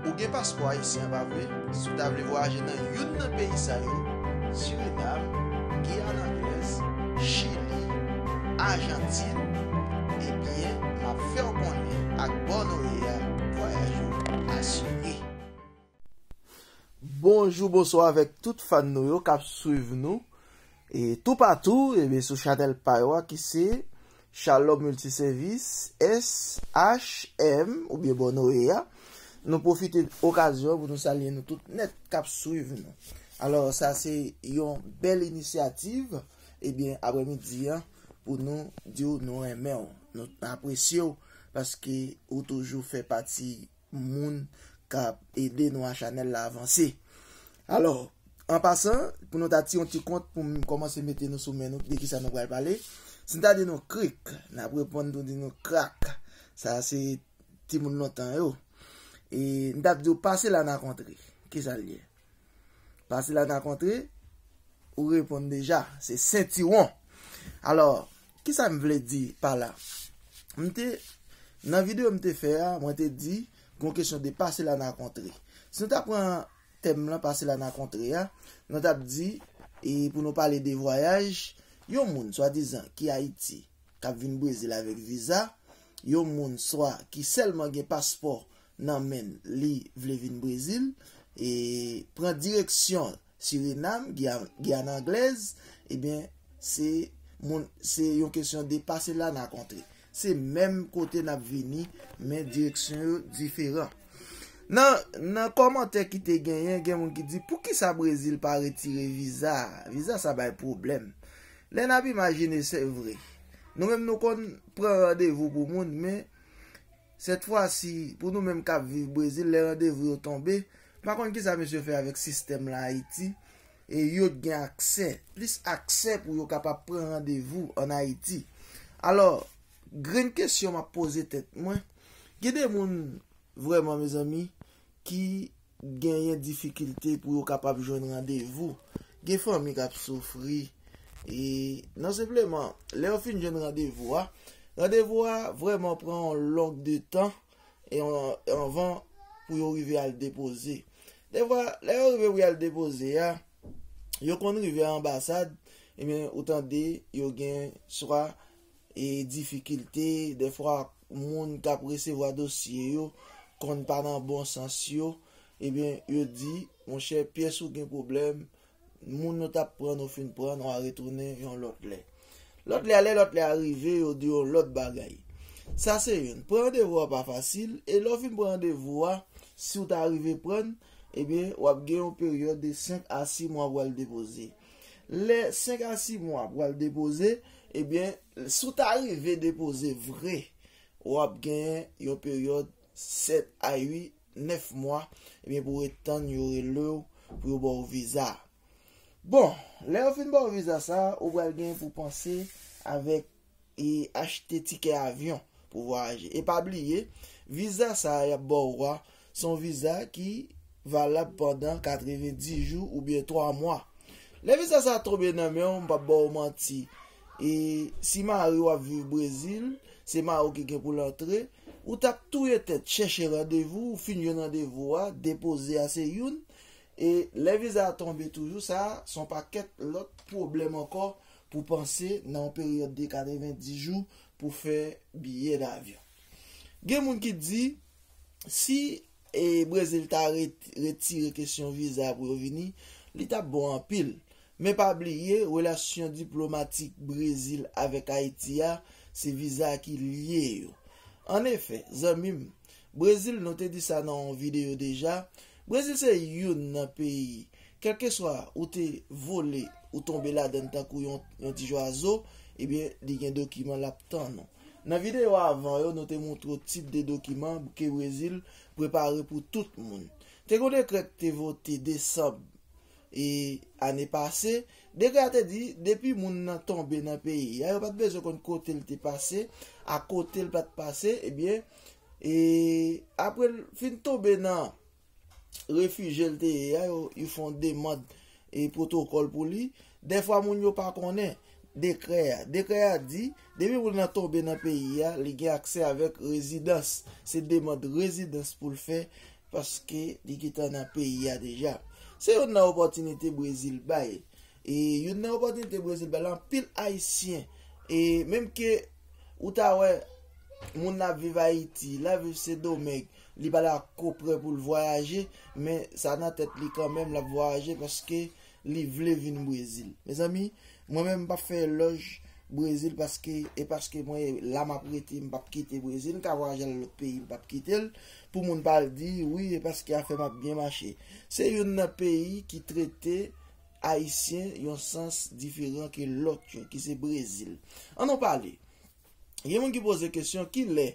Ou gen paspò ayisyen pa vre? Si w ta vle vwayaje nan youn nan peyi sa yo, Surinam, Giyàn Anglèz, Chili, Ajantin, ebyen m ap fè w konnen ak bò nou ye a, vwayaj ou asire. Bonjou bonswa avèk tout fan nou yo k ap swiv nou toupatou sou chanèl pa yo a ki se Shalom Multiservice, SHM, oubyen Bò Noye a. Nou pwofite okazyon an pou nou salye nou tout nèt k ap swiv nou. Alò, sa se yon bèl inisyativ, ebyen aprè midi an pou nou di w nou renmen w, nou apresye w paske ou toujou fè pati moun kap ede nou a chanèl la avanse alò an pasan pou nou ta ti yon ti kont poum kòmanse mete nou sou men nou de kisa nou pral pale si m ta di nou krik nap reponn nou di nou krak sa se timoun lontan yo e m tap diw pase la na kontre kisa l ye pase la na kontre ou reponn deja se sentiwon alò Kisa m vle di pa la? M te, nan videyo m te fè a, mwen te di, gon kesyon de pase la nan kontre. Si nou ta pran tèm lan pase la nan kontre a, nou t ap di, e pou nou pale de vwayaj, yon moun swadizan ki Ayiti, k ap vin Brezil avèk viza, yon moun swa ki sèlman gen paspò nan men l, li vle vin Brezil, e pran direksyon l. Sirenam, Guyane Anglaise, ebyen se moun se yon kesyon de pase la na kontre. Se menm kote nap vini men direksyon yo diferan. Nan komantè ki te genyen, gen moun ki di pou kisa Brezil pa retire viza, viza sa bay pwoblèm. Lè nap imajine se vre. Nou menm nou konn pran randevou pou moun men Sètfwasi, pou nou menm k ap viv Brezil, lè randevou yo tonbe, m pa konn kisa mesye yo fè avèk sistèm la Ayiti, e yo t gen aksè, plis aksè pou yo kapab pran randevou an Ayiti. Alò, grenn kesyon m ap poze tèt mwen, gen de moun vrèman mezanmi ki genyen difikilte pou yo kapab jwenn randevou, gen fanmi k ap soufri, e non senpleman lè yo fin jwenn randevou a, randevou a vrèman pran yon long de tan anvan pou yo rive al depoze. Defwa lè yo rive pou y al depoze a, yo konn rive anbasad, ebyen ou tande yo gen swa e difikilte, dèfwa moun k ap resevwa dosye yo konn pa nan bon sans yo, ebyen yo di, monchè pyès ou gen pwoblèm, moun nou t ap pran nou fin pran, nou a retounen yon lòt lè. Lòt lè a lè lòt lè a rive, yo di yon lòt bagay. Sa se youn. Pran randevou a pa fasil, e lè w fin pran randevou a, si w ta rive pran, ebyen w ap gen yon peryòd de 5 a 6 mwa pou w al depoze. Lè 5 a 6 mwa pral depoze, ebyen si w ta rive depoze vre, w ap gen yon peryòd 7 a 8, 9 mwa, ebyen pou w ret tann yo rele w pou yo ba w viza a. Bon, lè yo fin ba w viza sa a, ou pral gen pou w panse avèk. E achte tikè avyon pou vwayaje. E pa bliye, viza sa a y ap ba w a, se yon viza ki valab pandan 90 jou oubyen 3 mwa. Lè viza sa a tonbe nan men w, m p ap ba w manti, e si mari w ap viv Brezil, se mari w ki gen pou l antre, ou t ap touye tèt chèche randevou, ou fin jwenn randevou a, depoze a se youn, e lè viza a tonbe toujou, sa a se yon pakèt lòt pwoblèm ankò Pou panse nan yon peryòd de 90 jou pou fè biyè davyon. Gen moun ki di, si Brezil ta retire kesyon viza pou yo vini, li t ap bon anpil. Men pa bliye, relasyon diplomatik Brezil avèk Ayiti a, se viza ki lye yo. An efè, zanmi m, Brezil, nou te di sa nan yon videyo deja, Brezil se youn nan peyi. Kèlkeswa ou te vole ou tonbe ladann tankou yon ti jwazo ebyen li gen dokiman lap tann ou. Nan videyo avan yo nou te moutre w tip de dokiman bke Brezil prepare pou tout moun. Te gon dekrè k te vote desanb e ane pase, dekrè a te di depi moun nan tonbe nan peyi a yo pat bezwen konn kote l te pase a kote l pat pase ebyen e apre l fin tonbe nan refije l te ye a yo fon demand e pwotokòl pou li, dèfwa moun yo pa konnen dekrè a. Dekrè a di, depi moun nan tonbe nan peyi a, li gen aksè avèk rezidans. Se demand rezidans pou l fè paske li gentan nan peyi a deja. Se youn nan opòtinite Brezil bay. E youn nan opòtinite Brezil bay la anpil Ayisyen. E menm ke ou ta wè moun nan ap viv Ayiti, l ap viv Sendomeng, Li pa dakò prè pou l vwayaje, men sa nan tèt li kanmenm l ap vwayaje paske li vle vin Brezil. Mezanmi, mwen menm m p ap fè elòj Brezil paske e paske mwen la m ap rete, m p ap kite Brezil. M ka vwayaje al lòt peyi, m p ap kite l pou moun pa al di, wi e paske afè m ap byen mache. Se youn nan peyi ki trete Ayisyen yon sans diferan ke lòt yo, ki se Brezil. An nou pale! Gen moun ki poze kesyon ki lè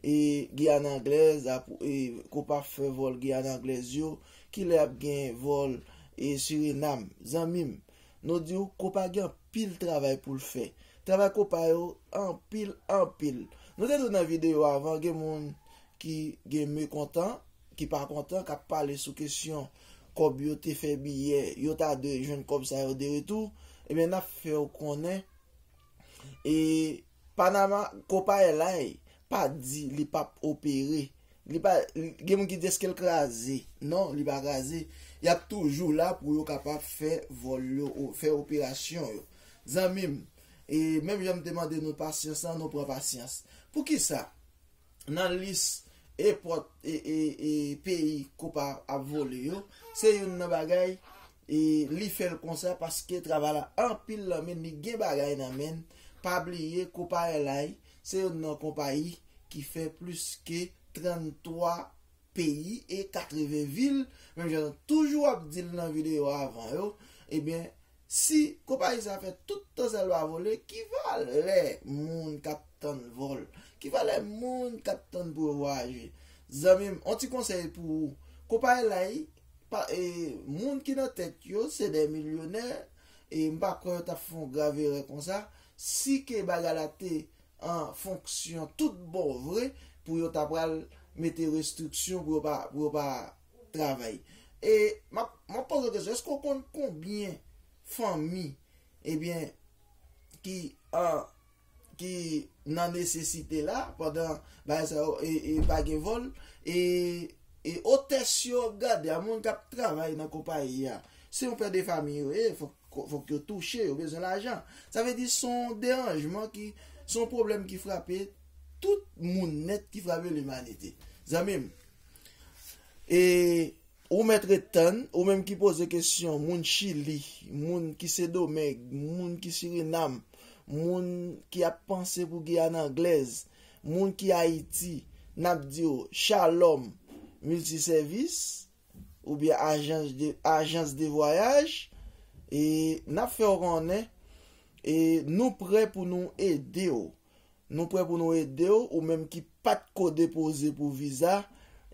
e Guyane Anglaise ap e kopa fè vòl Guyane Anglaise yo, ki lè ap gen vòl e Suriname. Zanmi m, nou di w kopa gen anpil travay pou l fè. Travay kopa yo anpil anpil. Nou te di w nan videyo avan gen moun ki gen mekontan, ki pa kontan, k ap pale sou kesyon kòb yo te fè biyè, yo ta dwe jwenn kòb sa yo de retou. Ebyen n ap fè w konnen E Panama konpaye lay pa di li pap opere. Li pa gen moun ki di eskel kraze. Non, li pa kraze. Yap toujou la pou yo kapab fè vòl yo, fè operasyon yo. Zanmi m, e menm jan m te mande nou pasyans lan, nou pran pasyans. Poukisa nan lis epòt e peyi konpa ap vole yo, se youn nan bagay Li fel konsa paske travay la anpil lan menn li gen bagay nan menn pa bliye Copaelai se yonn nan konpayi ki fè plis ke 33 peyi e 80 vil menm jan nou toujou ap dil nan video avan yo ebyen si konpayi sa fè tout tan sa li pa vole ki valè moun kap tann vol ki valè moun kap tann pou yo vwayaje zanmim on ti konsèy pou ou Copaelai Moun ki nan tèt yo se dè milyonè e m pa kwè yo t ap fè yon grav erè konsa si ke bagay la te an fonksyon tout bon vre pou yo ta pral mete restriksyon pou yo pa travay. E m ap poze w kesyon, èske w konn konbyen fanmi ki an ki nan nesesite la pandan bagay sa yo e pa gen vòl e otès yo ap gade a moun kap travay nan konpayi a se yon pè de famiy yo ye fòk yo touche yo bezwen lajan sa vle di son deranjman ki son pwoblèm ki frape tout moun nèt ki frape limanite zanmim e Ou mèt ret tann, ou menm ki poze kesyon moun Chili, moun ki Sendomeng, moun ki Sirinam, moun ki ap panse pou Giyàn Anglèz, moun ki Ayiti, n ap di w Shalom Multisèvis oubyen Ajans de Vwayaj e n ap fè w konnen nou prè pou nou ede w. Nou prè pou nou ede w, ou menm ki pat ko depoze pou viza,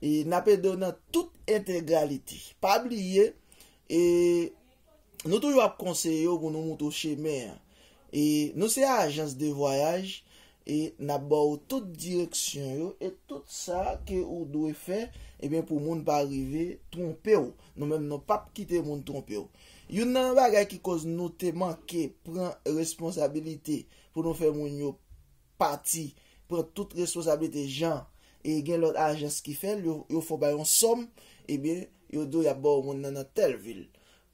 e nap ede w nan tout entegralite. Pa bliye, e Nou toujou ap konseye w pou nou moutre w chemen an. E Nou se ajans de vwayaj, e nap ba w tout direksyon yo, e tout sa ke ou dwe fè, ebyen pou moun pa rive twonpe w. Nou menm nou pap kite moun twonpe w. Youn nan bagay ki koz nou te manke pran responsabilite Pou nou fè moun yo pati pran tout responsabilite jan e gen lòt ajans ki fè l, yo fè w bay yon sòm, ebyen yo di w y ap ba w moun nan nan tèl vil.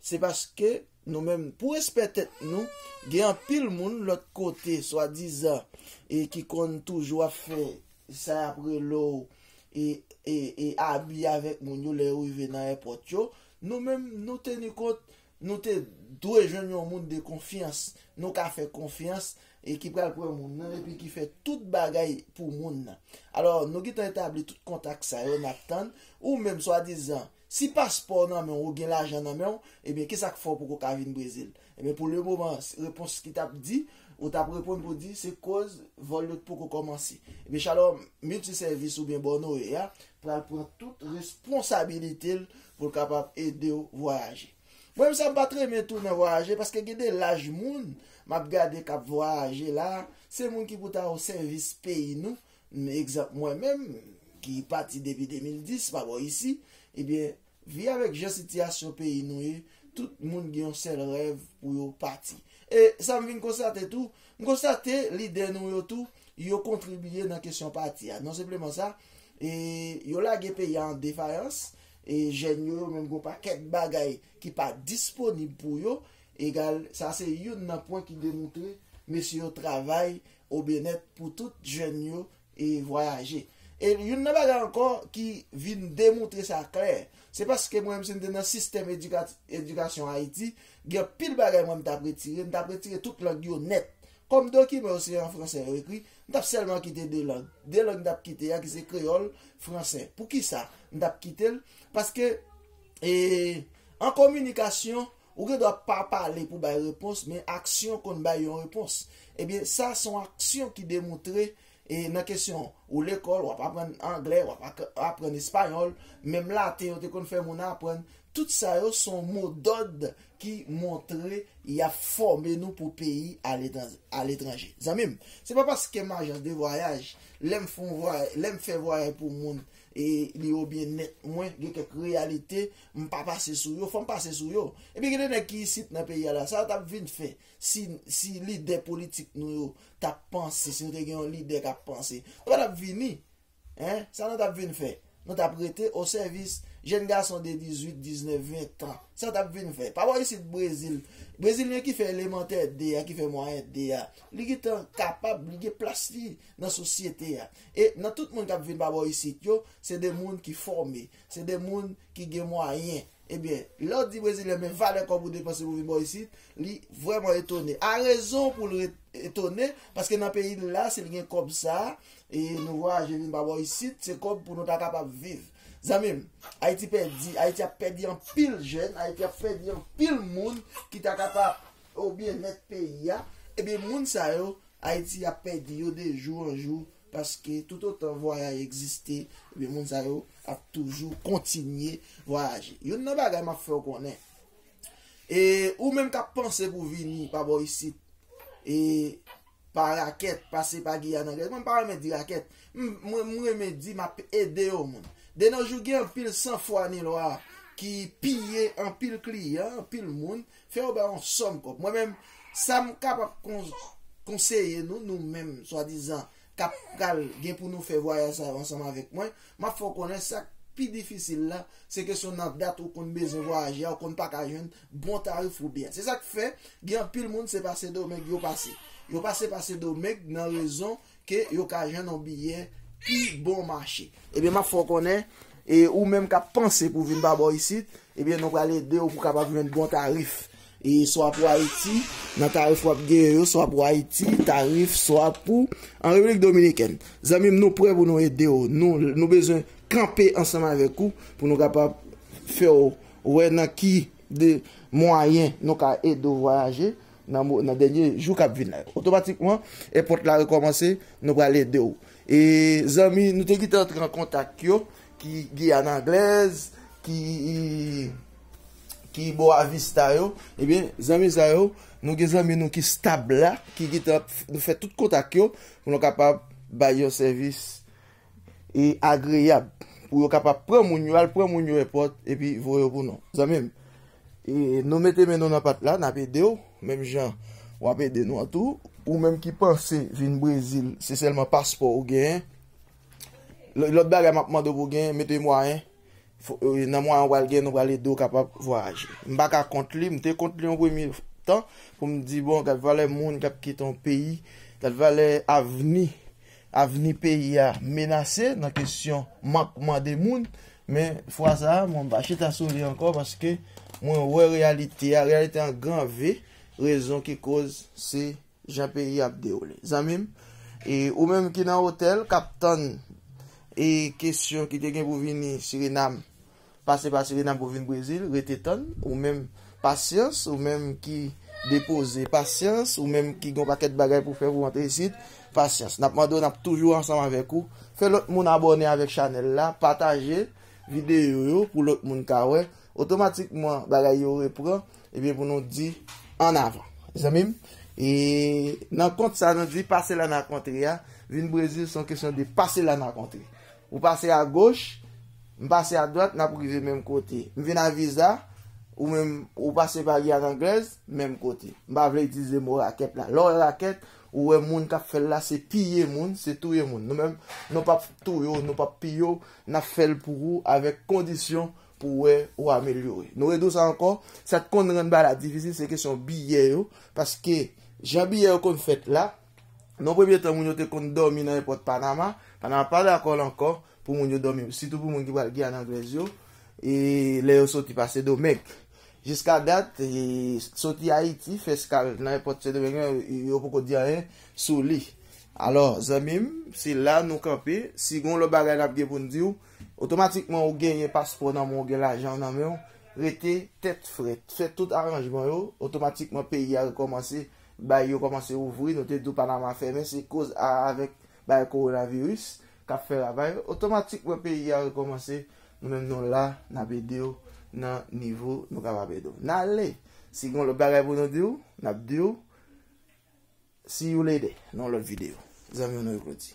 Se paske nou menm pou respè tèt nou, gen anpil moun lòt kote swadizan e ki konn toujou ap fè sa y ap rele w e abi avèk moun yo lè yo rive nan èpòt yo, nou menm nou teni kont Nou te dwe jwenn yon moun de konfyans, nou ka fè konfyans, e ki pral pran moun nan, epi ki fè tout bagay pou moun nan. Alò, nou gentan etabli tout kontak sa yo, n ap tann. Ou menm, swadizan, si paspò w nan men w, ou gen lajan nan men w, ebyen ki sa k fè w poko ka vin Brezil? Ebyen, pou le moman, repons ki t ap di, ou t ap reponn pou di, se koz vòl yo t poko kòmanse. Ebyen, Shalom Multisèvis oubyen Bònoye a pral pran tout responsabilite l pou l kapab ede w vwayaje. Mwen menm sa m pa t renmen tou nan vwayaje paske gen de laj moun m ap gade k ap vwayaje la a, se moun ki pou ta o sèvis peyi nou, egzanp mwen menm ki pati depi 2010 pa bò isi, ebyen vi avèk jan sitiyasyon peyi nou ye, tout moun gen yon sèl rèv pou yo pati. E sa m vin konstate tou, M konstate lide nou yo tou yo kontribiye nan kesyon pati a. Non senpleman sa, e yo lage peyi a an defayans, e jèn yo yo menm gon pakèt bagay ki pa disponib pou yo, egal sa se youn nan pwen ki demoutre mesye yo travay o byenèt pou tout jèn yo e vwayaje. E youn nan bagay ankò ki vin demoutre sa klè, se paske mwen menm si m te nan sistèm edikasyon Ayiti, gen anpil bagay mwen m t ap retire, m t ap retire tout lang yo nèt. Kòm dokiman yo se an fransè yo ekri, m t ap sèlman kite de lang. De lang m t ap kite a ki se kreyòl, fransè. Poukisa m t ap kite l? Paske an kominikasyon, Ou gen dwa pa pale pou bay repons men aksyon konn bay yon repons. Ebyen sa se yon aksyon ki demoutre e nan kesyon an. Ou lekòl, w ap aprann anglè, w ap aprann espayòl, menm laten yo te konn fè moun aprann, tout sa yo se yon modòd ki montre y ap fòme nou pou peyi aletranje. Zanmi m, se pa paske m ajans de vwayaj, lè m fè vwayay pou moun e li yo byennèt mwen gen kèk reyalite M pa pase sou yo, fò m pase sou yo. Epi gen de nèg ki isit nan peyi a la, sa yo t ap vin fè si lidè politik nou yo t ap panse, si nou te gen yon lidè k ap panse? Yo pa t ap vini. Sa nou t ap vin fè? Nou t ap rete osèvis jenn gason de dizuit, diznèf, ventan. Sa yo t ap vin fè? Pa wè isit Brezil, Brezilyen ki fè elemantè 2 a, ki fè mwayen 2 a, li gentan kapab, li gen plas li nan sosyete a. E nan tout moun k ap vin pa bò isit yo, se de moun ki fòme. Se de moun ki gen mwayen. Ebyen, lè w di Brezilyen men valè kòb ou depanse pou vin bò isit, li vrèman etone. A rezon pou l etone, paske nan peyi l la, si l gen kòb sa, e nou vwayaje vin pa bò isit, se kòb pou nou ta kapab viv. Zanmi m, Ayiti pèdi, Ayiti ap pèdi anpil jèn, Ayiti ap pèdi anpil moun ki ta kapab o byennèt peyi a. Ebyen moun sa yo, Ayiti ap pèdi yo de jou an jou. Paske toutotan vwayay egziste, ebyen moun sa yo ap toujou kontinye vwayaje. Youn nan bagay m ap fè w konnen, e ou menm k ap panse pou vini pa bò isit, e pa rakèt, pase pa Giyàn Anglèz, mwen m pa renmen di rakèt, mwen renmen di m ap ede yon moun. Denojou gen anpil sanfwa ni lwa ki piye anpil kliyan, anpil moun, Fè yo ba yon sòm kòb. Mwen menm, sa m kapab konseye nou, nou menm, swadizan, k ap pral gen pou nou fè vwayaj sa yo ansanm avèk mwen, m ap fè w konnen sa k pi difisil la, se kesyon nan dat ou konn bezwen vwayaje a, ou konn pa ka jwenn bon tarif ou byen. Se sa k fè, gen anpil moun se pa Sendomeng yo pase. Yo pase pa Sendomeng nan rezon Ke yo ka jwenn yon biyè pi bon mache. Ebyen map fè w konnen, e ou menm kap panse pou vin pa bò isit, ebyen nou pral ede w pou kapab jwenn bon tarif. E swa pou Ayiti, nan tarif wap genyen yo, swa pou Ayiti, tarif swa pou an Repiblik Dominikèn. Zanmi m nou prè pou nou ede w, nou bezwen kanpe ansanm avèk ou pou nou kapab fè w wè nan ki de mwayen nou ka ede w vwayaje. nan dènye jou kap vin la yo otomatikman èpòt la rekòmanse nou pral ede w e zanmi nou te gentan antre an kontak yo ki Guyane anglaise ki ki bò avista yo ebyen zanmi sa yo nou gen zanmi nou ki stab la ki gentan nou fè tout kontak yo pou nou kapab bay yon sèvis. e agreyab pou yo kapab pran moun yo al pran moun yo èpòt epi voye yo pou nou zanmi m nou mete men nou nan pat la nap ede w menm jan wap ede nou an tou ou menm ki panse vin brezil se sèlman paspò ou gen lòt bagay map mande w pou gen mete mwayen nan mwayen ou pral gen nou pral ede w kapab vwayaje m paka kont li m te kont li yon premye tan pou m di bon gad valè moun kap kite yon peyi gad valè avni Avni peyi a menase nan kesyon mankman de moun, men fwa sa a mwen pa chita sou li ankò paske mwen wè reyalite a, reyalite an gran V, rezon ki koz se jan peyi a ap dewoule. Zanmi m, e ou menm ki nan otèl k ap tann e kesyon ki te gen pou vini Sirinam pase pa Suriname pou vin Brezil, rete tann, ou menm pasyans, ou menm ki depoze, pasyans, ou menm ki gen yon pakèt bagay pou fè pou antre isit, pasyans. N ap mande w n ap toujou ansanm avèk ou, fè lòt moun abòne avèk chanèl la, pataje videyo yo pou lòt moun ka wè, otomatikman bagay yo repran, ebyen pou nou di an avan. Zanmi m, e nan kont sa nou di pase la n ak antre a, vin Brezil se yon kesyon de pase la n ak antre. Ou pase a goch, m pase a dwat nap rive menm kote. M vin a viza, ou menm ou pase pa Giyàn Anglèz, menm kote. M pa vle itilize mo rakèt la. Lè w wè rakèt, ou wè moun kap fè l la se piye moun, se touye moun. Nou menm, nou pap touye w, nou pap piye w, nap fè l pou ou avèk kondisyon pou wè ou amelyore. Nou redi w sa ankò, sa k konn rann bagay la difisil se kesyon biyè yo, paske jan biyè yo konn fèt la, Nan premye tan, moun yo te konn dòmi nan èpòt Panama. Panama pa dakò l ankò pou moun yo dòmi, sitou pou moun ki pral Giyàn Anglèz yo, lè yo soti pa Sendomeng. Jiska dat, soti Ayiti, fè eskal nan èpòt Sendomeng lan, yo poko di anyen sou li. Alò, zanmi m, se la nou kanpe. Si gen yon lòt bagay n ap gen pou n di w, otomatikman ou genyen paspò nan men w, ou gen lajan w nan men w, rete tèt frèt. Fè tout aranjman yo, otomatikman peyi a rekòmanse. Bay yo kòmanse ouvri, nou te di w Panama fèmen se koz a avèk bagay coronavirus kap fè ravay, otomatik wè peyi a rekòmanse, nou menm nou la nap ede w nan nivo nou kapab ede w. Nale! Si gen yon lòt bagay pou nou di w, nap di w See you later nan yon lòt video. Zanmi w nan yo Claudy.